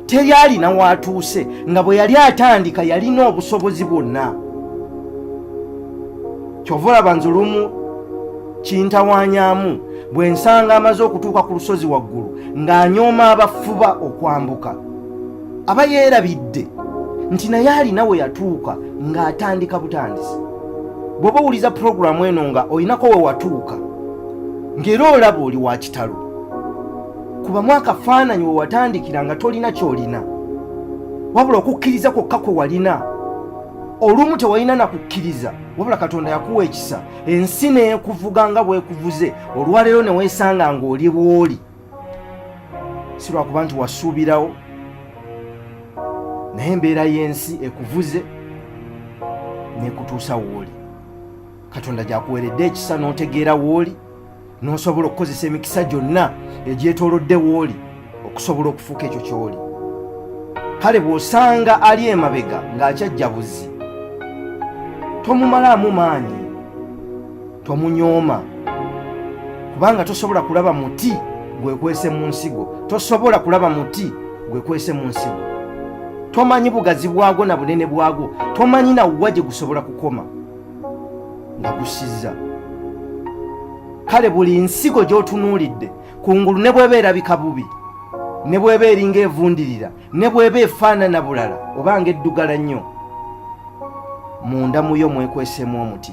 teri alina waatuuse nga bwe yali atandika yalina obusobozi bwonna kyova olaba nze lumu kintawanyamu bwe nsanga amaze okutuuka ku lusozi waggulu ng'anyooma abafuba okwambuka aba yeerabidde nti naye alina we yatuuka ng'atandika butandisi bw'oba owuliza pulogulaamu eno nga olinako we watuuka ng'era olaba oli wa kitalo kuba mwaka faananyi we watandikira nga tolina kyolina wabula okukkiriza kwokka kwe walina olumu tewalina na kukkiriza wabula katonda yakuwa ekisa ensi neekuvuga nga bwekuvuze olwaleero ne weesanga ng'oli bw'oli si lwakuba nti wasuubirawo naye embeera y'ensi ekuvuze neekutuusa wooli katonda gyakuweredde ekisa n'otegeera wooli n'osobola okukozesa emikisa gyonna egyetoolodde wooli okusobola okufuuka ekyo ky'oli kale bw'osanga ali emabega ng'akyajja buzi tomumalaamu maanyi tomunyooma kubanga tosobola kulaba muti gwekwese mu nsigo tosobola kulaba muti gwekwese mu nsigo tomanyi bugazi bwagwo na bunene bwagwo tomanyi nawuwa gye gusobola kukoma nga gusizza kale buli nsigo gy'otunuulidde kungulu ne bweba erabika bubi ne bweba eringa evundirira ne bweba efaanana bulala oba nga eddugala nnyo munda muyo mwekwesemu omuti